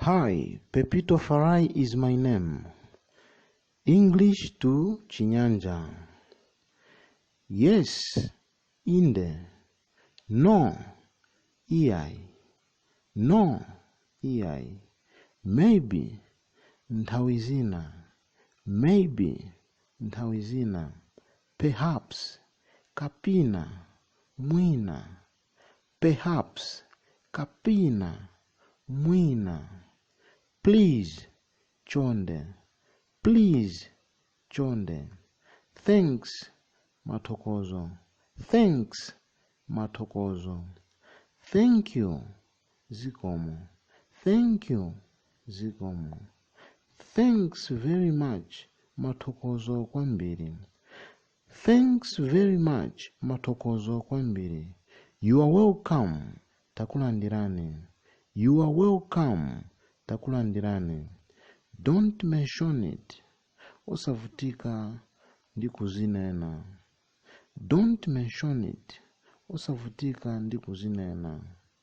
Hi, Pepito Farai is my name. English to Chinyanja. Yes, inde. No, iai. No, iai. Maybe, nthawi zina. Maybe, nthawi zina. Perhaps, kapina, mwina. Perhaps Kapena, mwina. Please Chonde Please Chonde Thanks Mathokozo Thanks Mathokozo Thank you Zikomo Thank you Zikomo Thanks very much Mathokozo kwambiri Thanks very much, Mathokozo kwambiri. You are welcome, Takulandirani. You are welcome, Takulandirani. Don't mention it, Osavutika ndi kuzinena. Don't mention it, Osavutika ndi kuzinena.